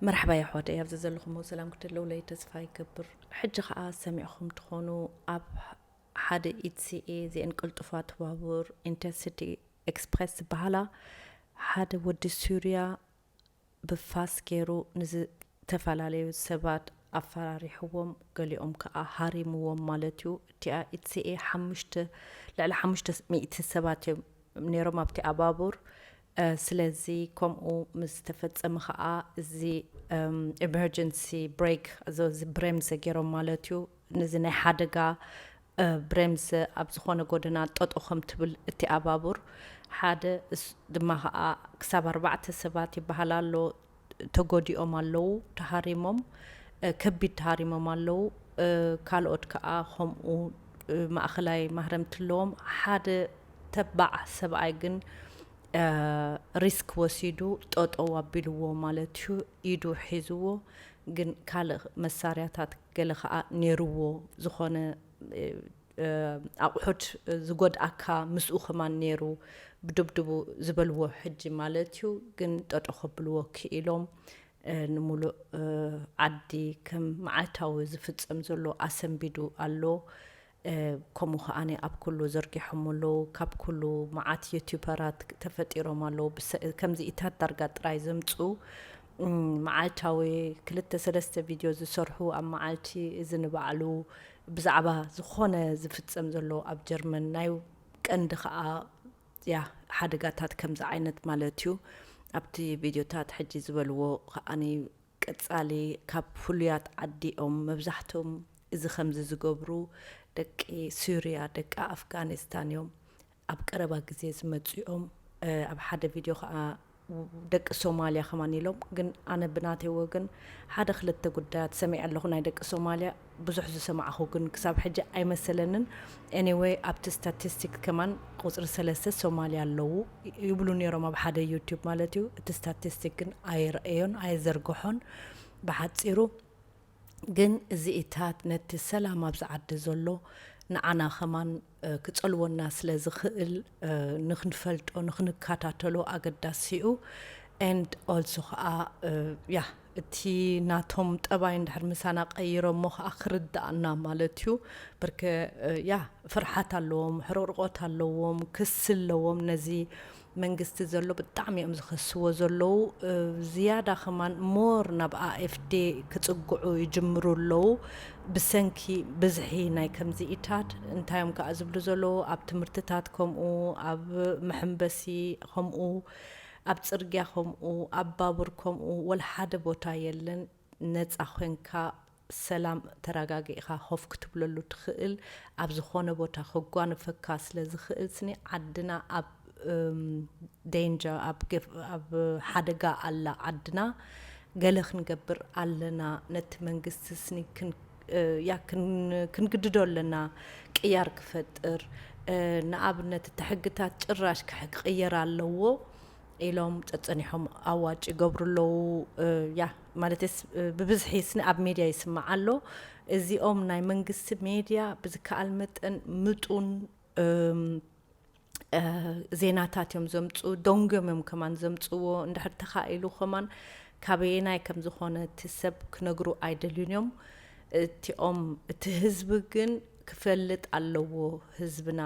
መርሓባ የሕዋተይ ኣብ ዘዘለኹሞ ሰላም ክትለውለይ ተስፋ ይገብር ሕጂ ከኣ ሰሚዕኹም ትኾኑ ኣብ ሓደ ኢትሲኤ ዜን ቅልጡፋት ባቡር ኢንተርሲቲ ኤክስፕረስ ዝበሃላ ሓደ ወዲ ሱርያ ብፋስ ገይሩ ንዝተፈላለዩ ሰባት ኣፈራሪሕዎም ገሊኦም ከኣ ሃሪምዎም ማለት እዩ እቲኣ ኢትሲኤ ሓሙሽተ ልዕሊ ሓሙሽተ ሚእቲ ሰባት እዮም ነይሮም ኣብቲኣ ባቡር ስለዚ ከምኡ ምስ ተፈጸመ ከኣ እዚ ኤመርጀንሲ ብሬክ እዚ ብሬምዘ ገይሮም ማለት እዩ ነዚ ናይ ሓደጋ ብሬምዘ ኣብ ዝኾነ ጎደና ጠጦ ከም ትብል እቲ ኣባቡር ሓደ ድማ ከኣ ክሳብ ኣርባዕተ ሰባት ይበሃል ኣሎ ተጎዲኦም ኣለዉ ተሃሪሞም ከቢድ ተሃሪሞም ኣለዉ ካልኦት ከኣ ከምኡ ማእኸላይ ማህረምቲ ኣለዎም ሓደ ተባዕ ሰብኣይ ግን ሪስክ ወሲዱ ጠጠው ኣቢልዎ ማለት እዩ ኢዱ ሒዝዎ ግን ካልእ መሳርያታት ገለ ከዓ ነይርዎ ዝኾነ ኣቁሑት ዝጎድኣካ ምስኡ ከማን ነይሩ ብድብድቡ ዝበልዎ ሕጂ ማለት እዩ ግን ጠጦ ከብልዎ ክኢሎም ንሙሉእ ዓዲ ከም መዓልታዊ ዝፍጸም ዘሎ ኣሰንቢዱ ኣሎ ከምኡ ከኣ ኣብ ኩሉ ዘርጊሖሞ ኣለዉ ካብ ኩሉ መዓት ዩቲፐራት ተፈጢሮም ኣለዉ ከምዚኢታት ዳርጋ ጥራይ ዘምጽኡ መዓልታዊ ክልተ ሰለስተ ቪድዮ ዝሰርሑ ኣብ መዓልቲ እዚ ንባዕሉ ብዛዕባ ዝኾነ ዝፍጸም ዘሎ ኣብ ጀርመን ናይ ቀንዲ ከዓ ያ ሓደጋታት ከምዚ ዓይነት ማለት እዩ ኣብቲ ቪድዮታት ሕጂ ዝበልዎ ከዓኒ ቀጻሊ ካብ ፍሉያት ዓዲ እዮም መብዛሕቶም እዚ ከምዚ ዝገብሩ ደቂ ሱርያ ደቂ ኣፍጋኒስታን እዮም ኣብ ቀረባ ግዜ ዝመጹ እዮም ኣብ ሓደ ቪድዮ ከኣ ደቂ ሶማልያ ከማን ኢሎም ግን ኣነ ብናተይ ወገን ሓደ ክልተ ጉዳያት ሰሚዐ ኣለኹ ናይ ደቂ ሶማልያ ብዙሕ ዝሰማዕኹ ግን ክሳብ ሕጂ ኣይመሰለንን ኤኒወይ ኣብቲ ስታቲስቲክ ከማን ቁጽሪ ሰለስተ ሶማልያ ኣለዉ ይብሉ ነይሮም ኣብ ሓደ ዩቲዩብ ማለት እዩ እቲ ስታቲስቲክ ግን ኣየርኣዮን ኣየዘርግሖን ብሓጺሩ ግን እዚኢታት ነቲ ሰላም ኣብዚ ዓዲ ዘሎ ንዓና ከማን ክጸልወና ስለ ዝኽእል ንክንፈልጦ ንክንከታተሎ ኣገዳሲ'ዩ and also ከኣ ያ እቲ ናቶም ጠባይ እንድሕር ምሳና ቀይሮሞ ከኣ ክርድኣና ማለት እዩ ብርከ ያ ፍርሓት ኣለዎም ሕርቕርቖት ኣለዎም ክሲ ኣለዎም ነዚ መንግስቲ ዘሎ ብጣዕሚ እዮም ዝኸስዎ ዘለዉ ዝያዳ ከማን more ናብ AFD ክጽግዑ ይጅምሩ ኣለዉ ብሰንኪ ብዝሒ ናይ ከምዚ ኢታት እንታይ እዮም ከኣ ዝብሉ ዘለዉ ኣብ ትምህርትታት ከምኡ ኣብ መሐምበሲ ከምኡ ኣብ ጽርግያ ከምኡ ኣብ ባቡር ከምኡ ወላ ሓደ ቦታ የለን ነጻ ኮንካ ሰላም ተራጋጊእኻ ኮፍ ክትብለሉ ትኽእል ኣብ ዝኾነ ቦታ ከጓንፈካ ስለ ዝኽእል ስኒ ዓድና ኣብ ደንጀር ኣብ ሓደጋ ኣላ ዓድና ገለ ክንገብር ኣለና ነቲ መንግስቲ ስኒ ያ ክንግድዶ ኣለና ቅያር ክፈጥር ንኣብነት እቲ ሕግታት ጭራሽ ክቅየር ኣለዎ። ኢሎም ጸጸኒሖም ኣዋጭ ይገብሩ ኣለዉ ያ ማለትስ ብብዝሒ ስኒ ኣብ ሜድያ ይስማዕ ኣሎ እዚኦም ናይ መንግስቲ ሜድያ ብዝከኣል መጠን ምጡን ዜናታት እዮም ዘምፅኡ ደንጎም እዮም ከማን ዘምፅዎ እንድሕር ተኻኢሉ ከማን ካበየናይ ከም ዝኾነ እቲ ሰብ ክነግሩ ኣይደልዩን እዮም እቲኦም እቲ ህዝቢ ግን ክፈልጥ ኣለዎ ህዝብና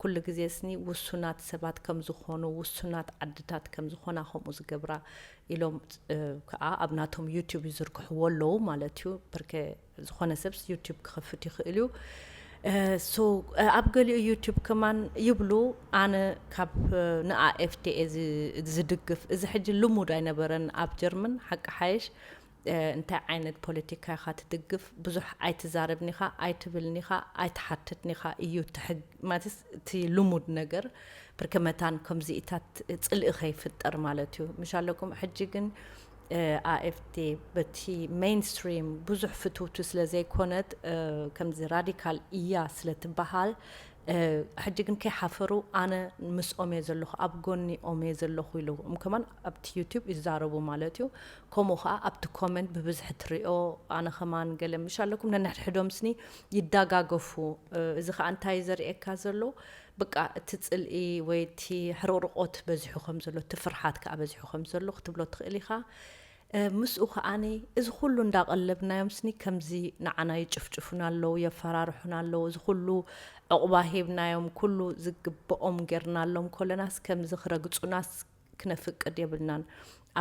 ኩሉ ግዜስኒ ውሱናት ሰባት ከም ዝኾኑ፣ ውሱናት ዓድታት ከም ዝኾና ከምኡ ዝገብራ ኢሎም ከኣ ኣብ ናቶም ዩቱብ ይዝርግሕዎ ኣለዉ ማለት እዩ። ብርከ ዝኾነ ሰብስ ዩቱብ ክኸፍት ይኽእል እዩ። ሶ ኣብ ገሊኡ ዩቱብ ከማን ይብሉ ኣነ ካብ ንኣኤፍቲ እየ ዝድግፍ። እዚ ሕጂ ልሙድ ኣይነበረን ኣብ ጀርመን ሓቂ ሓይሽ እንታይ ዓይነት ፖለቲካ ኢኻ ትድግፍ ብዙሕ ኣይትዛረብን ኢኻ ኣይትብልን ኢኻ ኣይትሓትትን ኢኻ እዩ እቲ ሕግ ማለትስ እቲ ልሙድ ነገር ብርከ መታን ከምዚኢታት ጽልኢ ከይፍጠር ማለት እዩ ምሽ ኣለኩም ሕጂ ግን ኣኤፍቲ በቲ ሜይንስትሪም ብዙሕ ፍትውቲ ስለ ዘይኮነት ከምዚ ራዲካል እያ ስለ ትበሃል ሕጂ ግን ከይሓፈሩ ኣነ ምስኦም እየ ዘለኹ ኣብ ጎኒኦም እየ ዘለኹ ኢሉ እም ከማን ኣብቲ ዩቱብ ይዛረቡ ማለት እዩ ከምኡ ከኣ ኣብቲ ኮመንት ብብዝሒ ትሪኦ ኣነ ከማን ገለ ምሽ ኣለኩም ነንሕድሕዶም ስኒ ይዳጋገፉ እዚ ከኣ እንታይ እዩ ዘርእየካ ዘሎ ብቃ እቲ ጽልኢ ወይ እቲ ሕርቕርቆት በዚሑ ከም ዘሎ እቲ ፍርሓት ከኣ በዚሑ ከም ዘሎ ክትብሎ ትኽእል ኢኻ ምስኡ ከኣኒ እዚ ኩሉ እንዳቀለብናዮም ስኒ ከምዚ ንዓና ይጭፍጭፉና ኣለዉ የፈራርሑና ኣለዉ እዚ ኩሉ ዕቑባ ሂብናዮም ኩሉ ዝግብኦም ጌርናሎም ኮለናስ ከምዚ ክረግጹናስ ክነፍቅድ የብልናን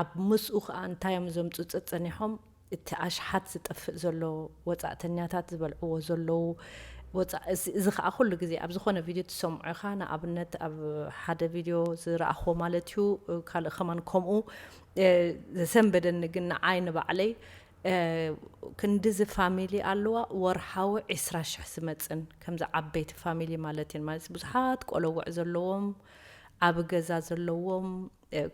ኣብ ምስኡ ከኣ እንታይ እዮም ዘምጹ ጸጸኒሖም እቲ ኣሽሓት ዝጠፍእ ዘሎ ወጻእተኛታት ዝበልዕዎ ዘለዉ ወጻእ እዚ እዚ ከኣ ኩሉ ግዜ ኣብ ዝኾነ ቪድዮ ትሰምዖ ኢኻ ንኣብነት ኣብ ሓደ ቪድዮ ዝረኣኽዎ ማለት እዩ ካልእ ከማን ከምኡ ዘሰንበደኒ ግን ንዓይ ንባዕለይ ክንዲዚ ፋሚሊ ኣለዋ ወርሓዊ ዒስራ ሽሕ ዝመፅን ከምዚ ዓበይቲ ፋሚሊ ማለት እየን ማለት ብዙሓት ቆለውዕ ዘለዎም ኣብ ገዛ ዘለዎም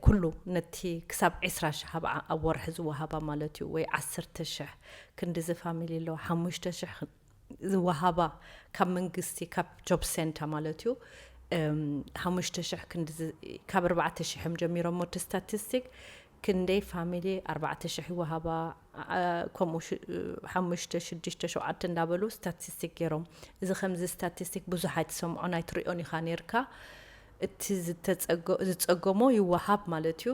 ኩሉ ነቲ ክሳብ ዕስራ ሽሕ ኣብ ኣብ ወርሒ ዝወሃባ ማለት እዩ ወይ ዓሰርተ ሽሕ ክንድዚ ፋሚሊ ኣለዋ ሓሙሽተ ሽሕ ዝወሃባ ካብ መንግስቲ ካብ ጆብ ሴንታ ማለት እዩ ሓሙሽተ ሽሕ ክንድዚ ካብ ኣርባዕተ ሽሕ እዮም ጀሚሮሞ እቲ ስታቲስቲክ ክንደይ ፋሚሊ ኣርባዕተ ሽሕ ይወሃባ ከምኡ ሓሙሽተ ሽዱሽተ ሸውዓተ እንዳበሉ ስታቲስቲክ ገይሮም እዚ ከምዚ ስታቲስቲክ ብዙሕ ኣይትሰምዖን ኣይትሪኦን ኢኻ ነርካ እቲ ዝፀገሞ ይወሃብ ማለት እዩ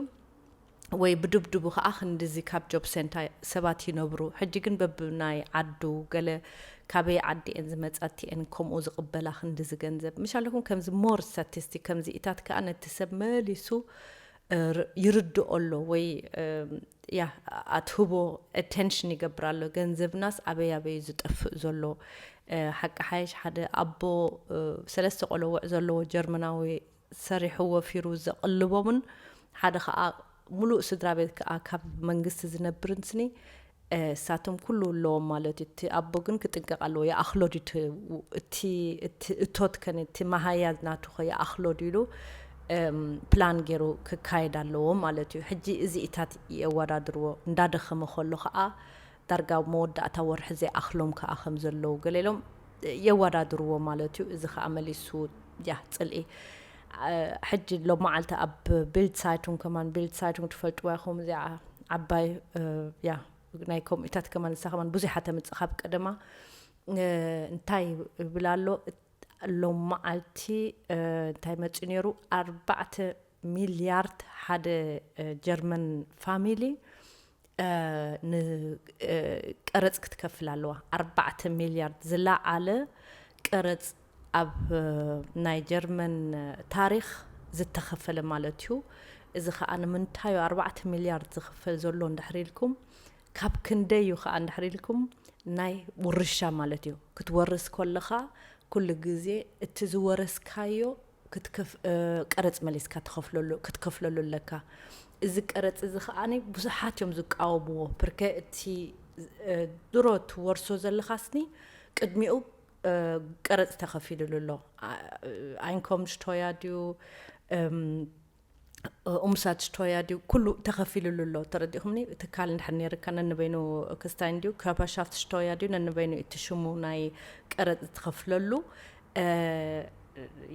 ወይ ብድብድቡ ከዓ ክንድዚ ካብ ጆብ ሴንታ ሰባት ይነብሩ ሕጂ ግን በብናይ ዓዱ ገለ ካበይ ዓዲ እየን ዝመፃ እቲኤን ከምኡ ዝቕበላ ክንድዚ ገንዘብ ምሻለኩም ከምዚ ሞር ስታቲስቲክ ከምዚኢታት ከዓ ነቲ ሰብ መሊሱ ይርድኦ ኣሎ ወይ ያ ኣትህቦ ኣቴንሽን ይገብር ኣሎ ገንዘብናስ ኣበይ ኣበይ ዝጠፍእ ዘሎ ሓቂ ሓየሽ ሓደ ኣቦ ሰለስተ ቆለውዕ ዘለዎ ጀርመናዊ ሰሪሑ ወፊሩ ዘቕልቦምን ሓደ ከዓ ሙሉእ ስድራ ቤት ከዓ ካብ መንግስቲ ዝነብርን ስኒ እሳቶም ኩሉ ኣለዎም ማለት እዩ እቲ ኣቦ ግን ክጥንቀቅ ኣለዎ ይኣክሎ ድዩ እቲ እቲ እቲ እቶት ከ ነቲ መሃያ ናቱ ከ ይኣክሎ ድዩ ኢሉ ፕላን ገይሩ ክካየድ ኣለዎ ማለት እዩ ሕጂ እዚኢታት የወዳድርዎ እንዳደከመ ከሎ ከኣ ዳርጋ ኣብ መወዳእታ ወርሒ ዘይኣክሎም ከኣ ከም ዘለዉ ገለ ኢሎም የወዳድርዎ ማለት እዩ እዚ ከኣ መሊሱ ያ ጽልኢ ሕጂ ሎማዓልቲ ኣብ ቢልድ ሳይቱንግ ከማን ቢልድ ሳይቱንግ ትፈልጥዋ ኢኹም እዚኣ ዓባይ ያ ናይ ከምኡታት ከማን ንሳ ከማን ብዙሓ ተምፅእ ካብ ቀደማ እንታይ ይብል ኣሎ ሎም መዓልቲ እንታይ መፂ ነይሩ ኣርባዕተ ሚልያርድ ሓደ ጀርመን ፋሚሊ ንቀረጽ ክትከፍል ኣለዋ። ኣርባዕተ ሚልያርድ ዝለዓለ ቀረጽ ኣብ ናይ ጀርመን ታሪኽ ዝተኸፈለ ማለት እዩ። እዚ ከኣ ንምንታይ እዩ ኣርባዕተ ሚልያርድ ዝኽፈል ዘሎ እንድሕር ኢልኩም ካብ ክንደይ እዩ ከኣ እንድሕር ኢልኩም ናይ ውርሻ ማለት እዩ ክትወርስ ከለኻ ኩሉ ግዜ እቲ ዝወረስካዮ ቀረጽ መሊስካ ትኸፍለሉ ክትከፍለሉ ኣለካ። እዚ ቀረጽ እዚ ከኣ ብዙሓት እዮም ዝቃወምዎ ብርከ እቲ ድሮ ትወርሶ ዘለኻስኒ ቅድሚኡ ቀረጽ ተኸፊልሉ ኣሎ ኣይንኮምሽቶያ ድዩ ኡምሳድስቶያ ድዩ ኩሉ ተኸፊሉሉ ኣሎ ተረዲእኹምኒ ትካል እንድሕር ነይርካ ነንበይኑ ክስታይን ድዩ ካፓሻፍትስቶያ ድዩ ነንበይኑ እቲ ሽሙ ናይ ቀረፅ ዝትኸፍለሉ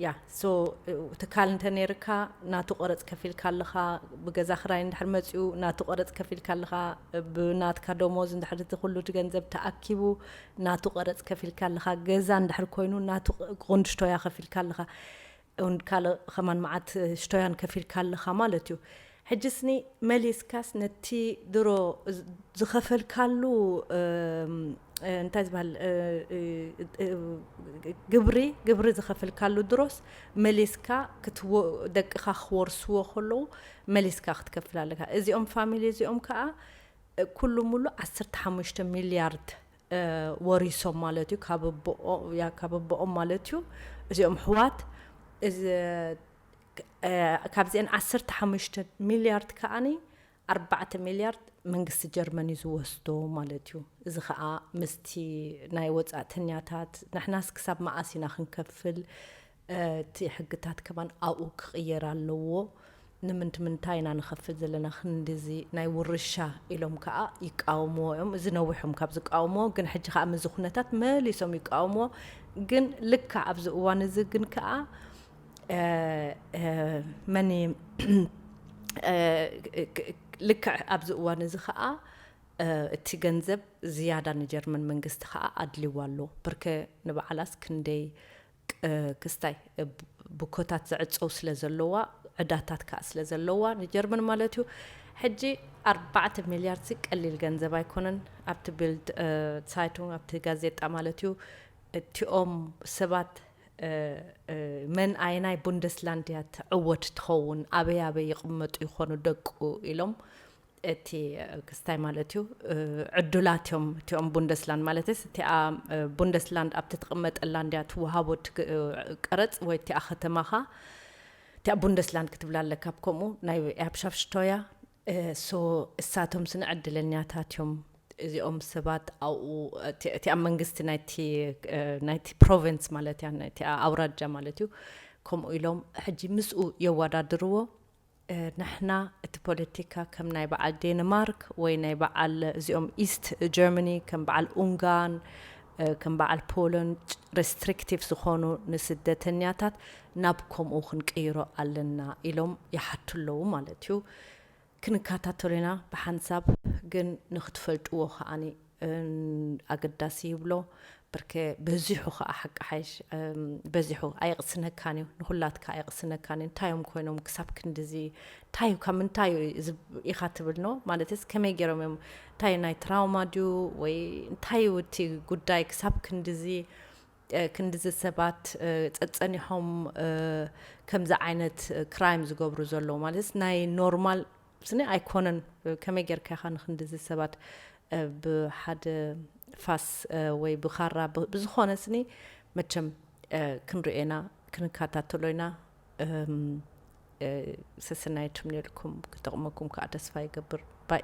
ያ ሶ ትካል እንተ ነይርካ ናቱ ቀረፅ ከፊልካ ኣለኻ ብገዛ ክራይ እንድሕር መፅኡ ናቱ ቀረፅ ከፊልካ ኣለኻ ብናትካ ደሞዝ እንድሕር እቲ ኩሉ እቲ ገንዘብ ተኣኪቡ ናቱ ቀረፅ ከፊልካ ኣለኻ ገዛ እንድሕር ኮይኑ ናቱ ጉንድሽቶያ ከፊልካ ኣለኻ ን ካልእ ኸማን መዓት ሽቶያን ከፊልካ ኣለኻ ማለት እዩ ሕጅስኒ መሊስካስ ነቲ ድሮ ዝኸፈልካሉ እንታይ ዝበሃል ግብሪ ግብሪ ዝኸፍልካሉ ድሮስ መሊስካ ደቅኻ ክወርስዎ ከለዉ መሊስካ ክትከፍል ኣለካ እዚኦም ፋሚሊ እዚኦም ከዓ ኩሉ ሙሉ ዓሰርተ ሓሙሽተ ሚልያርድ ወሪሶም ማለት እዩ ካብ ኣቦኦ ያ ካብ ኣቦኦም ማለት እዩ እዚኦም ኣሕዋት እዚ ካብዚኤን ዓሰርተ ሓሙሽተ ሚልያርድ ከኣኒ ኣርባዕተ ሚልያርድ መንግስቲ ጀርመን እዩ ዝወስዶ ማለት እዩ እዚ ከኣ ምስቲ ናይ ወጻእተኛታት ንሕናስ ክሳብ መኣስ ኢና ክንከፍል እቲ ሕግታት ከማን ኣብኡ ክቅየር ኣለዎ ንምንት ምንታይ ኢና ንከፍል ዘለና ክንድዚ ናይ ውርሻ ኢሎም ከኣ ይቃወምዎ እዮም እዚ ነዊሕ እዮም ካብ ዝቃወምዎ ግን ሕጂ ከኣ ምዚ ኩነታት መሊሶም ይቃወምዎ ግን ልክዕ ኣብዚ እዋን እዚ ግን ከኣ መን ልክዕ ኣብዚ እዋን እዚ ከኣ እቲ ገንዘብ ዝያዳ ንጀርመን መንግስቲ ከኣ ኣድልዋ ኣሎ ብርከ ንበዓላስ ክንደይ ክስታይ ብኮታት ዝዕጸው ስለ ዘሎዋ ዕዳታት ካኣ ስለ ዘሎዋ ንጀርመን ማለት እዩ ሕጂ ኣርባዕተ ሚልያርድ ሲ ቀሊል ገንዘብ ኣይኮነን ኣብቲ ቢልድ ሳይቱንግ ኣብቲ ጋዜጣ ማለት እዩ እቲኦም ሰባት መን ኣየናይ ቡንደስላንድያ ትዕወት ትኸውን ኣበይ ኣበይ ይቕመጡ ይኾኑ ደቁ ኢሎም እቲ ክስታይ ማለት እዩ ዕዱላት እዮም እቲኦም ቡንደስላንድ ማለትስ እቲኣ ቡንደስላንድ ኣብቲ ትቕመጠላ እንድያ ትወሃቦ ቀረጽ ወይ እቲኣ ከተማኻ እቲኣ ቡንደስላንድ ክትብላ ኣለካ ከምኡ ናይ ኤርፕሻፍሽቶያ ሶ እሳቶም ስነ ዕድለኛታት እዮም እዚኦም ሰባት ኣብኡ እቲኣ መንግስቲ ናይቲ ፕሮቨንስ ማለት እያ እቲኣ ኣውራጃ ማለት እዩ ከምኡ ኢሎም ሕጂ ምስኡ የወዳድርዎ ንሕና እቲ ፖለቲካ ከም ናይ በዓል ዴንማርክ ወይ ናይ በዓል እዚኦም ኢስት ጀርመኒ ከም በዓል ኡንጋን ከም በዓል ፖለንድ ረስትሪክቲቭ ዝኾኑ ንስደተኛታት ናብ ከምኡ ክንቅይሮ ኣለና ኢሎም ይሓቱ ኣለዉ ማለት እዩ። ክንከታተሎ ኢና ብሓንሳብ ግን ንክትፈልጥዎ ከኣ ኣገዳሲ ይብሎ ብርከ በዚሑ ከኣ ሓቂ ሓይሽ በዚሑ ኣየቕስነካን እዩ ንኹላትካ ኣየቕስነካን እዩ እንታይ እዮም ኮይኖም ክሳብ ክንዲዚ እንታይ እዩ ካብ ምንታይ እዩ ኢኻ ትብል ኖ ማለትስ ከመይ ገይሮም እዮም እንታይ ናይ ትራውማ ድዩ ወይ እንታይ እዩ እቲ ጉዳይ ክሳብ ክንዲዚ ክንዲዚ ሰባት ጸጸኒሖም ከምዚ ዓይነት ክራይም ዝገብሩ ዘለዉ ማለትስ ናይ ኖርማል ስኒ ኣይኮነን ከመይ ጌርካ ኢኻ ንክንድዚ ሰባት ብሓደ ፋስ ወይ ብኻራ ብዝኾነ ስኒ መቸም ክንሪኦ ኢና ክንካታተሎ ኢና ሰሰናዩ ትምነየልኩም ክጠቕመኩም ከኣ ተስፋ ይገብር ባይ።